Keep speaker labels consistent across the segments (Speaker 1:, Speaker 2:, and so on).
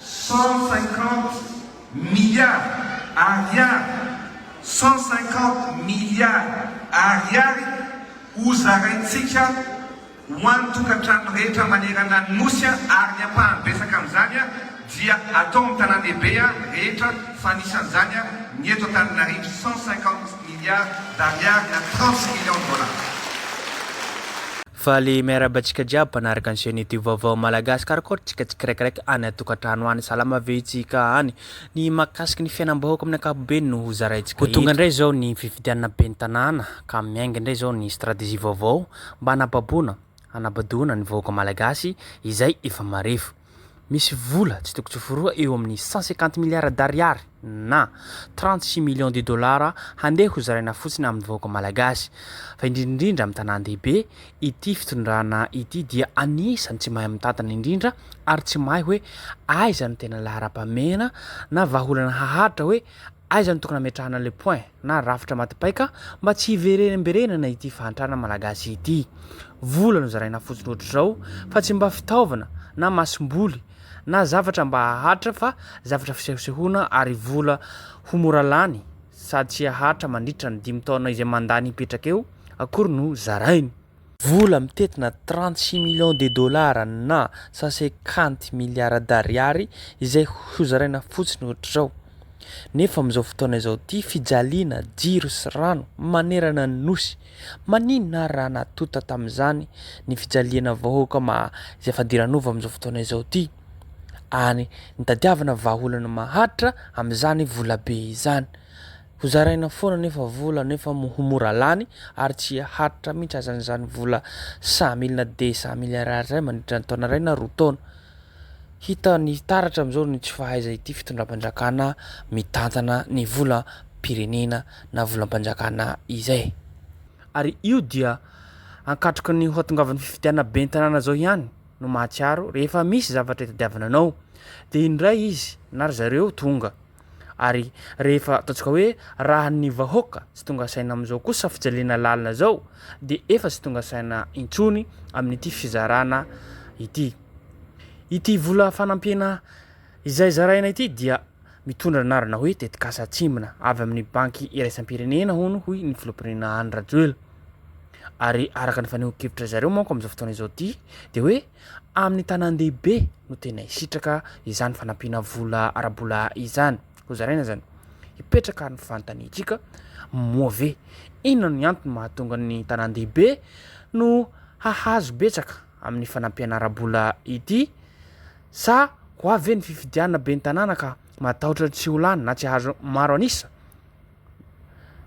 Speaker 1: Cent cinquante milliards Ariary Cent cinquante milliards Ariary ho zaraintsika ho an'ny tokantrano rehetra manerana ny Nosy ary ny ampahany betsaka amin'izany dia atao amin'ny tanàndehibe rehetra fa anisan'izany ny eto Antananarivo Cent cinquante milliards d'Ariary na trente millions de dollars.
Speaker 2: Faly miarahaba antsika jiaby mpanaraka ny chaîne youtube vaovao Malagasy Karakôry tsika tsikiraikaraiky any atokantrano any salama ve itsika any Ny mahakasiky ny fiainambahoaka amin'ny ankapobeny no ho zaraintsika eto Ho tonga indray izao ny fifidianana ben'ny tanàna ka miainga indray izao ny stratégie vaovao mba hanababoana hanabadoana ny vahoaka Malagasy izay efa marefo. Misy vola tsy toko tsy foroha eo amin'ny cent cinquante milliards d'ariary na trente six millions de dollars handeha ho zaraina fotsiny amin'ny vahoaka malagasy. Fa indrindra indrindra amin'ny tanàn-dehibe, ity fitondrana ity dia anisan'ny tsy mahay mitantana indrindra ary tsy mahay hoe aiza no tena laharam-pahamehana na vahaolana haharitra hoe Aiza no tokony hametrahana le point na rafitra matipaika mba tsy hiverenemberenana ity fahantrana malagasy ity? Vola no zaraina fotsiny ohatr'izao fa tsy mba fitaovana na masomboly na zavatra mba hahatra fa zavatra fisehosehoana ary vola ho mora lany sady tsy hahatra mandritra ny dimy taona izay mandany hipetraka eo akory no zarainy. Vola mitentina trente six millions de dollars na sasekanty miliara d'ariary izay hozaraina fotsiny ohatr'izao. Nefa amin'izao fotoana izao ity fijaliana jiro sy rano manerana ny Nosy, maninona ary raha natonta tamin'izany ny fijaliana vahoaka maha izay fadiranova amin'izao fotoana izao ity ary nitadiavana vahaolana maharitra amin'izany volabe izany. Ho zaraina foana anefa vola nefa ho mora lany ary tsy haharitra mihitsy azany izany vola cent mille na deux cent mille ariary izany mandritra ny taona iray na roa taona. Hita ny taratra amin'izao ny tsy fahaiza ity fitondram-panjakana mitantana ny volam-pirenena na volam-panjakana izay. Ary io dia ankatroka ny hoatongavan'ny fifidianana ben'ny tanàna izao ihany no mahatsiaro rehefa misy zavatra itadiavana anao dia indray izy na ry zareo tonga Ary rehefa ataontsika hoe raha ny vahoaka tsy tonga saina amin'izao kosa fijaliana lalina izao dia efa tsy tonga saina intsony amin'ity fizarana ity. Ity vola fanampiana izay zaraina ity dia mitondra anarana hoe tetikasa atsimbina avy amin'ny banky iraisam-pirenena hono hoy ny filoham-pirenena Andry Rajoelina. Ary araka ny fanehoan-kevitra zareo manko amin'izao fotoana izao ity dia hoe amin'ny tanàn-dehibe no tena hisitraka izany fanampiana vola ara-bola izany. Hozaraina izany. Hipetraka ny fanontaniantsika, moa ve inona ny antony mahatonga ny tanàn-dehibe no hahazo betsaka amin'ny fanampiana ara-bola ity? Sa ho avy ve ny fifidianana ben'ny tanàna ka matahotra tsy ho lany na tsy hahazo maro an'isa?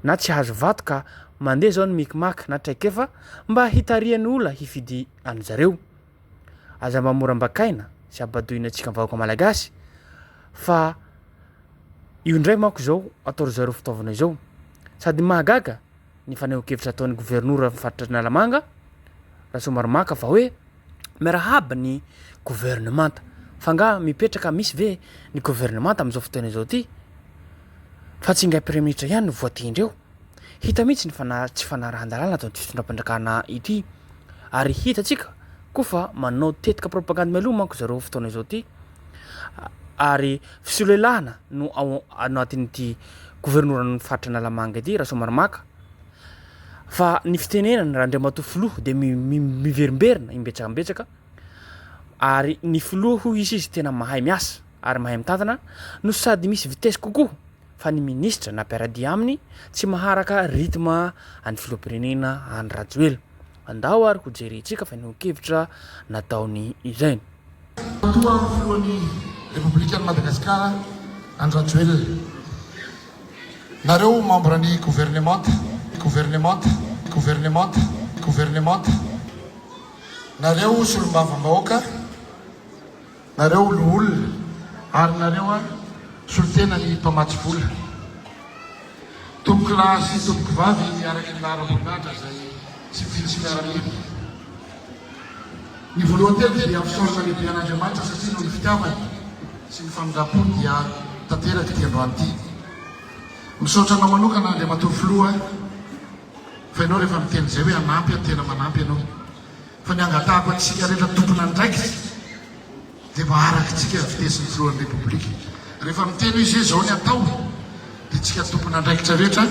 Speaker 2: na tsy azo vato ka mandeha zao ny micmac na traikefa mba hitarihan'ny ola hifidy an'i zareo. Aza mba mora ambakaina sy abadoina antsika vahoaka malagasy fa io indray manko zao atao ry zareo fitaovana izao. Sady mahagaga ny fanehoan-kevitra ataon'ny gouvernora amin'ny faritra Analamanga, Rasoamaromaka fa hoe. miarahaba ny governemanta fa nga mipetraka misy ve ny governemanta amzao fotoana izao ty fa tsy ingahy praiminitra ihany no voatendry eo hita mihitsy ny fana tsy fanarahan-dalàna atao ty fitondram-panjakana ity ary hitatsika koa fa manao tetika propagandy mialoha manko zareo fotoana izao ty ary fisolelahana no ao anatin'ity governoran'ny faritra analamanga ity rasoamaromaka Fa ny fitenenana raha Andriamatoa Filoha dia miverimberina imbetsakambetsaka ary ny Filoha hoy izy izy tena mahay miasa ary mahay mitantana no sady misy vitesse kokoa fa ny Ministra na mpiaradia aminy tsy maharaka rythme an'ny Filoham-pirenena Andry Rajoelina. Andao ary ho jerentsika fa nihoan-kevitra nataony ireny. Alohan'ny
Speaker 3: filohan'ny Repoblikan'i Madagasikara Andry Rajoelina. Nareo membres ny governemanta, governemanta, governemanta, governemanta, nareo solombavambahoaka, Nareo loholona ary nareo a solotena ny mpamatsy vola. Tompoko lahy sy tompoko vavy araky ny laharam-boninahitra izay tsy vitsy miaramila. Ny voalohany teto dia mpisaorana lehibe an'Andriamanitra satria noho ny fitiavany sy ny famindrampony dia tanteraka ity androany ity. Misaotra anao manokana Andriamatoa Filoha fa ianao rehefa miteny izay hoe hanampy aho tena manampy ianao. Fa ny angatahako antsika rehetra tompon'andraikitra dia mba arakitsika ny fitesin'ny filohan'ny Repoblika. Rehefa miteny hoe izay izao ny atao dia tsika tompon'andraikitra rehetra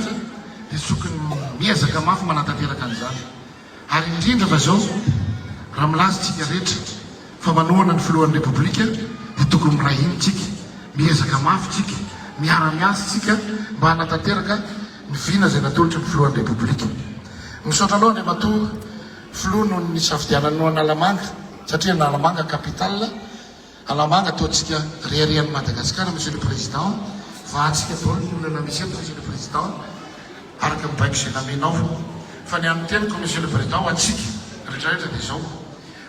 Speaker 3: dia tokony miezaka mafy manatanteraka an'izany. Ary indrindra fa izao raha milaza tsika rehetra Fa manohana ny filohan'ny Repoblika dia tokony miray hina tsika, miezaka mafy tsika, miara miasa tsika mba hanatanteraka ny vina izay natolotry ny filohan'ny Repoblika. Misaotra anao Andriamatoa Filoha noho ny nisafidiananao Analamanga satria Analamanga capital Analamanga ataontsika reharehan'i Madagasikara Monsieur le Président vahatsika daholo ny olana misy eto Monsieur le Président araka ny baiko izay namenao fa ny an'ny teniko Monsieur le Président ho antsika retraretra dia izao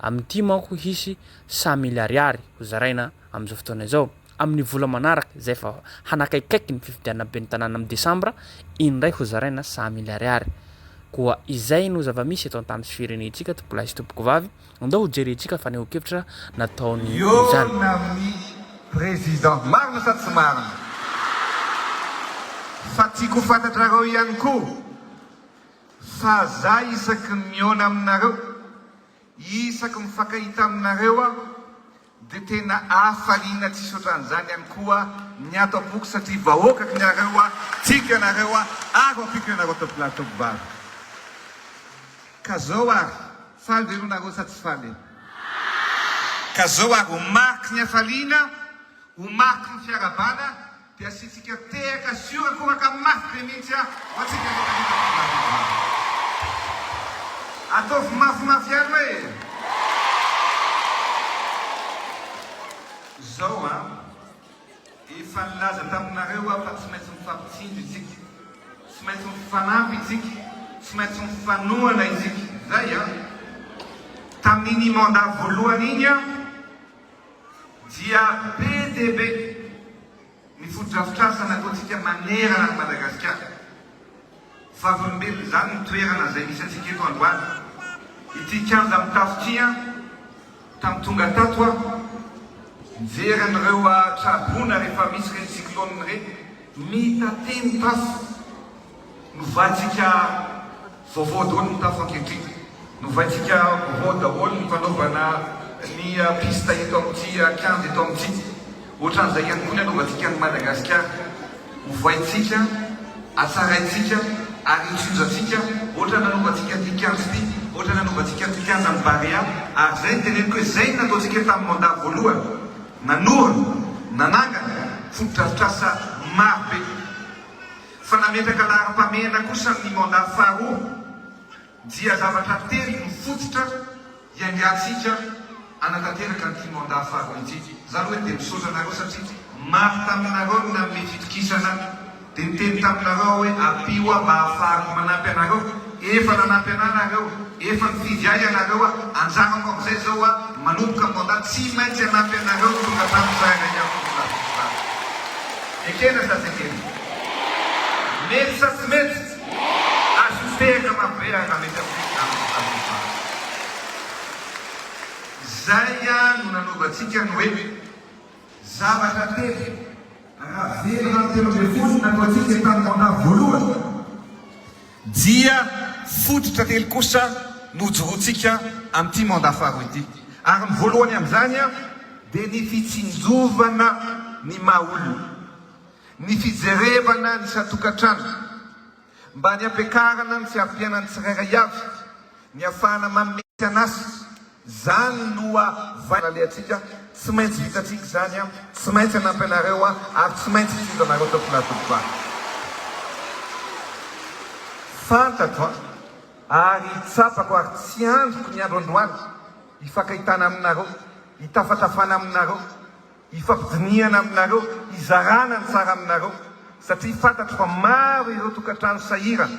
Speaker 2: Amin'ity manko hisy cent mille ariary ho zaraina amin'izao fotoana izao. Amin'ny vola manaraka izay efa hanakaikaiky ny fifidianana ben'ny tanàna amin'ny desambra, indray ho zaraina cent mille ariary. Koa izay no zava-misy eto an-tany sy firenentsika tompo'lahy sy tompokovavy, andao ho jerentsika fanehoan-kevitra nataony izany. Miorina amin'ny
Speaker 1: Président marina sa tsy marina? Fa tiako ho fantatrareo ihany koa. Fa za isaky ny mihaona aminareo, isaky mifankahita aminareo aho dia tena hafaliana tsisy otran'izany ihany koa ny ato am-poko satria vahoaka kny iareo aho, tiako ianareo aho ary ampiko ianareo ataoko lahy ataoko vavy. Ka zao ary, faly ve lonareo sa tsy faly e? Ka zao ary, ho mariky ny hafaliana, ho mariky ny fiarahabana Dia asiantsika tehaka sy horakoraka mafy be mihitsy ho antsika rehetra vita tovolahy vita vavy. Ataovy mafimafy ihany hoe. Izao an! Efa nilaza taminareo aho fa tsy maintsy mifampitsindry isika, tsy maintsy mifanampy isika, tsy maintsy mifanohana isika. Izay an! Tamin'iny mandat voalohany iny aho. dia be dia be ny fotodrafitrasa nataontsika manerana an'i Madagasikara. Vavolombelona izany ny toerana izay misy antsika eto androany. Ity kianja mitafo ity an, tamin'ny tonga tato aho, mijery an'ireo traboina rehefa misy ireny cyclone ireny, mitatemy tafo. Novaintsika vaovao daholo ny tafo ankehitriny. Novaintsika vaovao daholo ny fanaovana ny piste eto amin'ity kianja eto amin'ity. Ohatran'izay ihany koa ny hanaovantsika an'i Madagasikara. Ovaintsika, atsaraintsika ary hitsinjantsika ohatran'ny nanaovantsika an'ity kianja ity, ohatran'ny nanaovantsika an'ity kianjan'ny Barea. Ary izay no teneniko hoe izay no nataontsika tamin'ny mandat voalohany. Nanorina, nanangana fotodrafitrasa marobe. Fa nametraka laharam-pahamehana kosa amin'ny mandat faharoa dia zavatra telo mifototra hiaingantsika hanatanteraka an'ity mandat faharoa ity. Zany hoe dia misaotra anareo satria maro taminareo no nanome fitokisana dia niteny taminareo aho hoe ampio aho mba hahafahako manampy anareo. Efa nanampy anah nareo, efa nifidy ahy ianareo, anjaranao amin'izay izao hoa manomboka ny mandat, tsy maintsy hanampy anareo ny tokantrano tsirairay avy ny filaminan'izany. Ekena sa tsy ekena? Mety sa tsy mety? Azo mipehaka marobe ary raha mety amin'ny fitondrana voafaritra izany. Izay no nanovantsika ny hoe zavatra telo. Raha velona ny telo ambin'ny folo nataontsika tamin'ny mandat voalohany, Dia fototra telo kosa no hojoroantsika amin'ity mandat faharoa ity. Ary ny voalohany amin'izany dia ny fitsinjovana ny maha olona, ny fijerevana ny isan-tokantrano mba ny hampiakarana ny fiavianan'ny tsirairay avy Ny afahana manome tsy an'asa, izany no vaindohan' alehantsika, tsy maintsy vitantsika izany an, tsy maintsy hanampy anareo aho ary tsy maintsy hitondra anareo teo am-pilatoviko aho. Fantatro an, ary tsapako ary tsy andriko ny andro androany hifankahitana aminareo, hitafatafana aminareo, hifampidinihana aminareo, hizarana ny tsara aminareo, satria fantatro fa maro ireo tokantrano sahirana.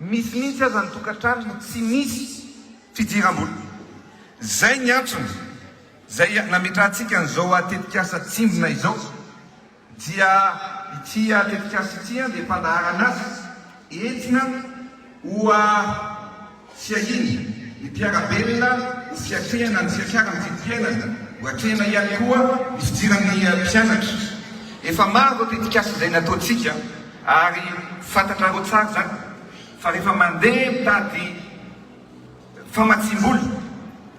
Speaker 1: Misy mihitsy aza ny tokantrano no tsy misy fidiram-bola. Izay ny antony izay nametrahantsika an'izao tetikasa Tsimbina izao. Dia ity tetikasa ity dia fandaharana azy entina ho fiahiana ny mpiara-belona ho fiatrehana ny fiakaran'ny vidim-piainana, ho atrehina ihany koa ny fidiran'ny mpianatra. Efa maro ireo tetikasa izay nataontsika. Ary fantatrareo tsara izany fa rehefa mandeha mitady famatsiam-bola,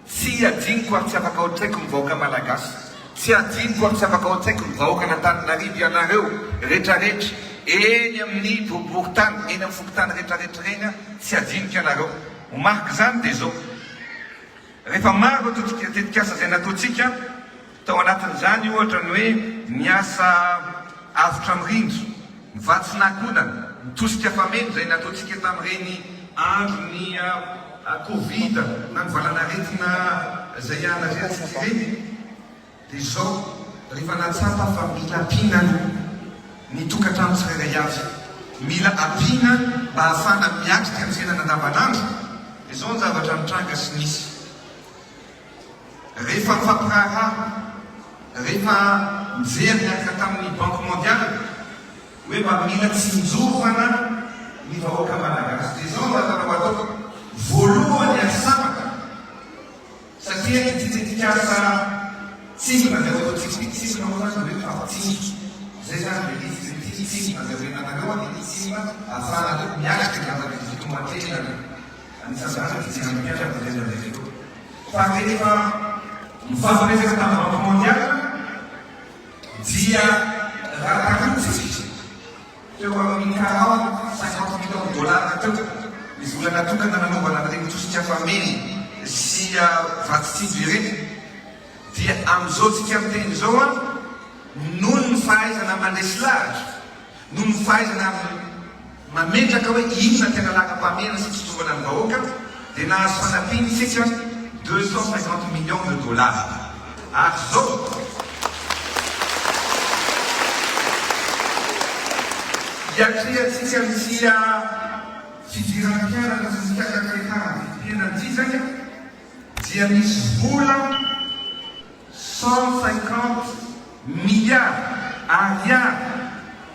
Speaker 1: tsy adinoko ary tsy afaka ao an-tsaiko ny vahoaka Malagasy, tsy adinoko ary tsy afaka ao an-tsaiko ny vahoaka an'Antananarivo, ianareo retraretra eny amin'ny boriborintany, eny amin'ny fokontany retraretra ireny aho tsy adinoko ianareo. Ho mariky izany dia izao, rehefa maro ireo tetikasa izay nataontsika, Tao anatin'izany, ohatra, ny hoe ny asa avotra mirindra, ny vatsy nahakodana, ny tosika fameno izay nataontsika tamin'ireny andron'ny Covid na ny valanaretina izay ianareo antsika ireny. Dia izao, rehefa nahatsapa fa mila ampiana aloha ny tokantrano tsirairay avy, mila ampiana mba hahafahana miatrika ny fiainana andavanandro, dia izao ny zavatra nitranga sy nisy. Rehefa nifampiraharaha, rehefa nijery niaraka tamin'ny Banque Mondiale hoe mba mila tsinjovana ny vahoaka Malagasy dia izao no azonao atao, voalohany azo sambatra satria ity tetikasa Tsinjovina izay ho atao Tsipy Tsinjovina moa izany dia hoe mifampitsinjo, izay izany ilay izy, dia ity mitsinjona izay ho renanareo dia ity tsinjovina ahafahanareo miatrika ny zava-misy eo antenany. Anisan'izany ny fijery ny mpianatra mandeha mandeha ireo. Fa rehefa mifampiresaka tamin'ny Banky Mondiale dia raha tandrify teo amin'ny quarante, cinquante millions de dollars teo ny vola natokana nanaovana an'ireny tosika fameno sy vatsy tsinjo ireny dia amin'izao tsika miteny izao an, noho ny fahaizana mandresy lahatra, Noho ny fahaizana amin'ny mametraka hoe inona ny tena lagam-pahamehana sy fitsinjovana ny vahoaka dia nahazo fanampiana isika deux cent cinquante millions de dollars ary izao iatrehantsika ny tsy fidirana mpianatra sy ny fiakakaretahan'ny vidim-piainana ity izay dia misy vola Cent cinquante milliards Ariary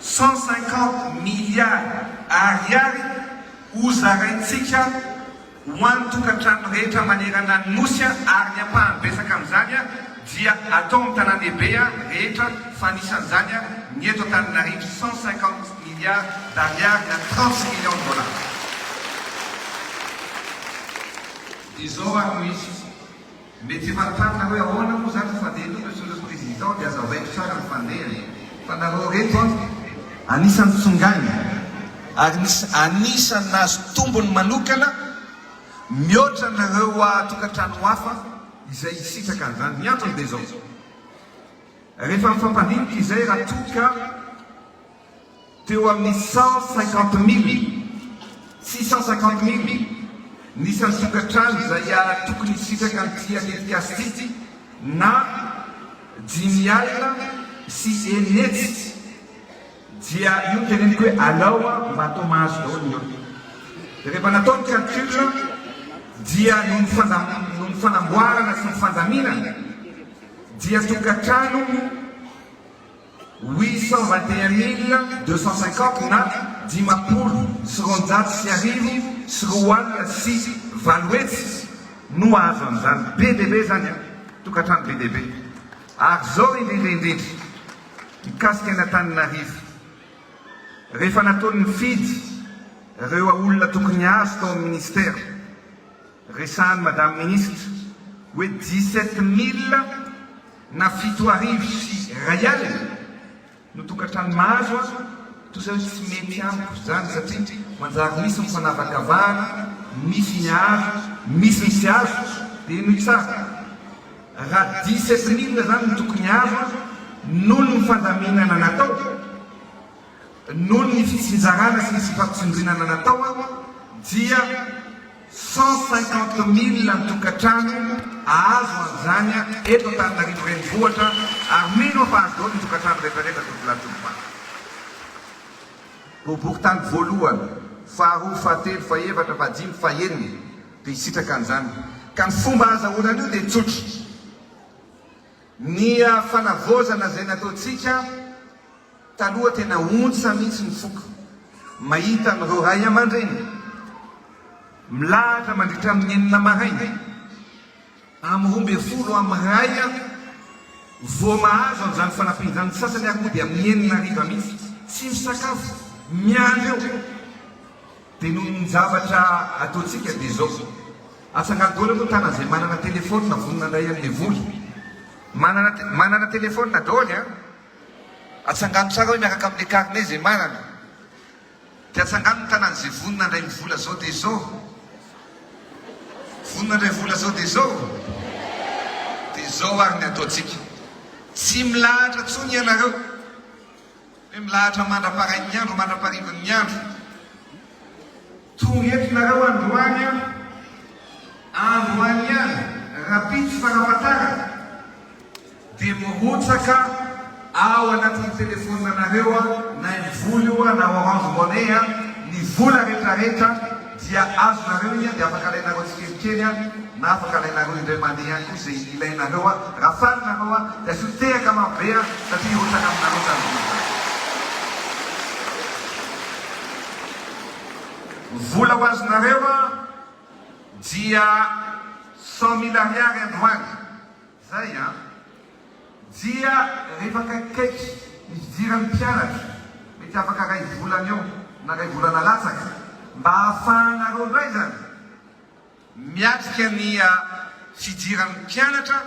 Speaker 1: Cent cinquante milliards Ariary ho zaraintsika ho an'ny tokantrano rehetra manerana ny Nosy ary ny ampahany betsaka amin'izany dia atao amin'ny tanàndehibe rehetra fa anisan'izany ny eto Antananarivo Cent cinquante milliards d'Ariary na trente millions de dollars. Izao ary no izy. Mety efa an-tanana hoe ahoana moa zany ny fandehany io Monsieur le Président dia aza vaiko tsara ny fandehany e! Fa nareo reto an! Anisany tsongainy ary anisany nahazo tombony manokana mihoatra ny ireo tokantrano hafa izay hisitraka an'izany. Ny antony dia izao, rehefa mifampandinika izay raha toa ka. Teo amin'ny cent cinquante mille sy cent cinquante mille ny isan'ny tokantrano izay tokony hisitraka an'ity tetikasa ity na dimy alina sy enina hetsy dia io no teneniko hoe alao mba atao mahazo daholo ny olona. Dia rehefa natao ny calcul dia noho ny fanamboarana sy ny fandaminana dia tokantrano Huit cent vingt et un mille deux cent cinquante na dimampolo sy roanjato sy arivo sy roa alina sy valo hetsy no hahazo an'izany. Be dia be izany an! Tokantrano be dia be. Ary izao indrindra indrindra, mikasika ny Antananarivo, rehefa nataon'ny fidy ireo olona tokony hahazo tao amin'ny Minisitera, Resahan'ny Madame Ministra hoe dix-sept mille na fito arivo sy iray alina no tokantrano mahazo aho toa izay hoe tsy mety amiko izany satria manjary misy ny fanavakavahana, misy ny azo, misy ny tsy azo dia henoy tsara raha dix-sept mille izany no tokony azo aho noho ny fandaminana natao, noho ny fitsinjarana sy ny tsy fampitsindrinana natao aho dia. Cent cinquante mille ny tokantrano ahazo an'izany eto Antananarivo renivohitra ary mino aho fa azo daholo ny tokantrano rehetrarehetra tompony ary tompompaka. Toboky tany voalohany, faharoa, fahatelo, fahefatra, fahadimy, fahenina dia hisitraka an'izany ka ny fomba ahazahoana an'io dia tsotra. Ny fanavaozana izay nataontsika taloha tena ontsa mihitsy ny foko mahita an'ireo ray aman-dreny milahatra mandritra amin'ny enina maraina amin'ny roa ambin'ny folo amin'ny iray vao mahazo an'izany fanampiana izany, ny sasany ary moa dia amin'ny enina hariva mihitsy, tsy misakafo, miandry eo. Dia noho ny zavatra ataontsika dia izao, Atsangano daholo aloha tana izay manana telefaonina vonona handray an'ilay vola. Manana manana telefaonina daholo an! Atsangano tsara hoe miaraka amin'ilay carnet izay manana. Dia atsangano ny tanan'izay vonona handray ny vola izao dia izao. Vonona handray vola izao dia izao? Dia izao ary ny ataontsika. Tsy milahatra intsony ianareo. Dia milahatra mandra-parain'ny andro mandra-parivin'ny andro. Tonga eto nareo androany an! Androany an! Rapitso fanafatarana dia mirotsaka ao anatin'ny telefonina nareo an! Na ny vola io an! Na orange money an! Ny vola retraretra. dia azonareo ian dia afaka alainareo tsikelikely an na afaka alainareo indray mandeha ian koa izay ilainareo an raha faly nareo an dia asio tehaka maro be an satria hirotsaka aminareo izany vola izany. Ny vola ho azonareo an dia cent mille ariary androany. Zay an! Dia rehefa akaikikaiky ny fidiran'ny mpianatra, mety afaka iray volana eo na iray volana latsaka, mba ahafahanareo indray izany miatrika ny fidiran'ny mpianatra,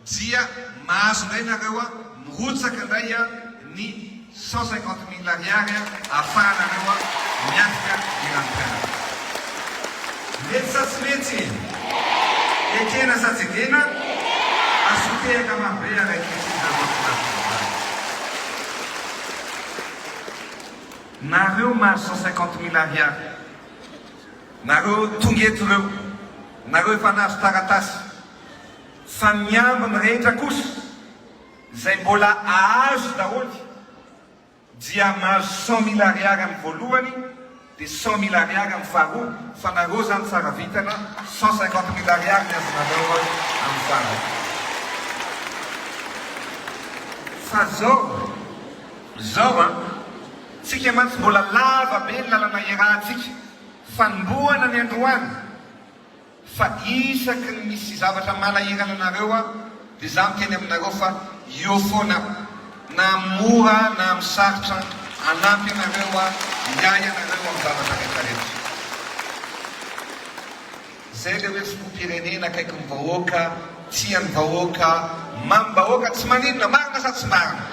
Speaker 1: dia mahazo indray nareo mirotsaka indray ny. Cent cinquante mille ariary ahafahanareo miatrika ny ranom-pianarana. Letsy sa tsy letsy? Ekena sa tsy ekena? Asio tehaka mafy be ary ankehitriny nareo mpianatra mivady. Nareo mahazo cent cinquante mille ariary, nareo tonga eto ireo, nareo efa nahazo taratasy, fa ny ambiny rehetra kosa, Izay mbola ahazo daholo dia mahazo cent mille ariary amin'ny voalohany dia cent mille ariary amin'ny faharoa fa nareo zany tsara vintana cent cinquante mille ariary ny azonareo amin'ny farany fa zao zao an tsika mantsy mbola lava be ny lalana iarahantsika fanombohana ny androany Fa isaky ny misy zavatra manahirana anareo aho dia za miteny aminareo fa eo foana aho na amin'ny mora na amin'ny sarotra hanampy anareo aho hiahy anareo amin'ny zavatra rehetra rehetra. Zay le hoe filoham-pirenena akaiky ny vahoaka, tia ny vahoaka, mamim-bahoaka, tsy maninona, marina sa tsy marina?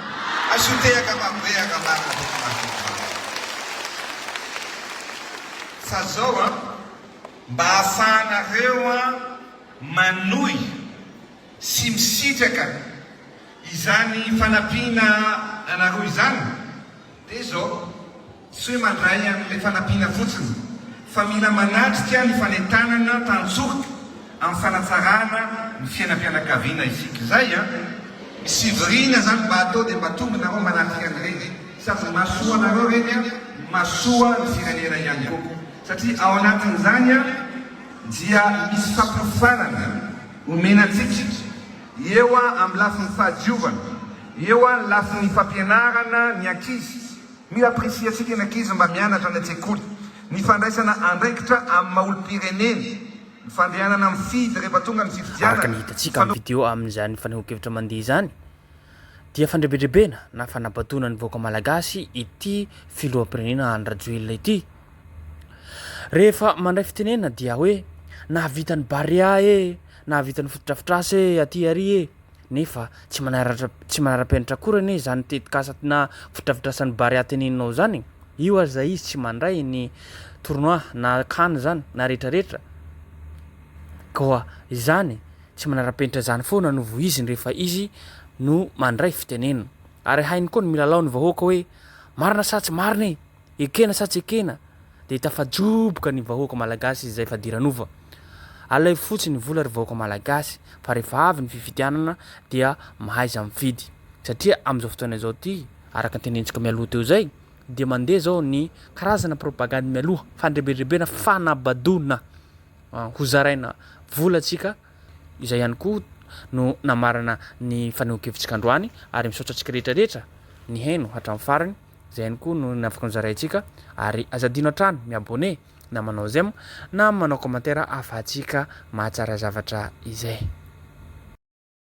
Speaker 1: Asio tehaka maro be ary raha marina dia tena azonao vahana. Fa zao an! Mba ahafahanareo manohy sy misitraka izany fanampiana anareo izany dia izao, tsy hoe mandray an'ilay fanampiana fotsiny fa mila manatrika ny fanentanana tantsoroka amin'ny fanatsarana ny fiainam-pianakaviana isika. Izay an! Misy fivoriana izany mba atao dia mba tonga nareo manatrika an'ireny. Sady mahasoa anareo ireny no mahasoa ny firenena ihany koa. Satria ao anatin'izany dia misy fampiofanana omena antsika eo amin'ny lafiny fahadiovana, eo amin'ny lafiny fampianarana ny ankizy. Mila apprecier-ntsika ny ankizy mba mianatra any an-tsekoly, ny fandraisana andraikitra amin'ny maha olom-pireneny, ny fandehanana mifidy rehefa tonga ny fifidianana. Araka ny hitantsika amin'ny video
Speaker 2: amin'izany fanehoan-kevitra mandeha izany dia fandrebendrebena na fanabadoana ny vahoaka malagasy ity filoham-pirenena Andry Rajoelina ity. Rehefa mandray fitenenana dia hoe nahavita ny Barea e, nahavita ny fotodrafitrasa e aty ary e. Nefa tsy manaratra tsy manara-penitra akory anie izany tetikasa na fotodrafitrasan'ny Barea teneninao izany e. Io aza izy tsy mandray ny tournoi na can izany na rehetrarehetra. Koa izany tsy manara-penitra izany foana no voiziny rehefa izy no mandray fitenenana. Ary hainy koa ny milalao ny vahoaka hoe marina sa tsy marina e. Ekena sa tsy ekena dia tafajoboka ny vahoaka malagasy izay fadiranova. Alaivo fotsiny ny vola ry vahoaka malagasy fa rehefa avy ny fifidianana dia mahaiza mifidy. Satria amin'izao fotoana izao ity, araka ny tenentsika mialoha teo izay, dia mandeha izao ny karazana propagandy mialoha, fandrebirebena, fanabadoana ho zaraina volantsika, izay ihany koa no namarana ny fanehoan-kevitsika androany ary misaotra antsika rehetra rehetra nihaino hatramin'ny farany. Zay ihany koa no ny afaka nozaraintsika ary aza adino hatrany mi abonner na manao j'aime na manao commentaire ahafahantsika mahatsara zavatra izay.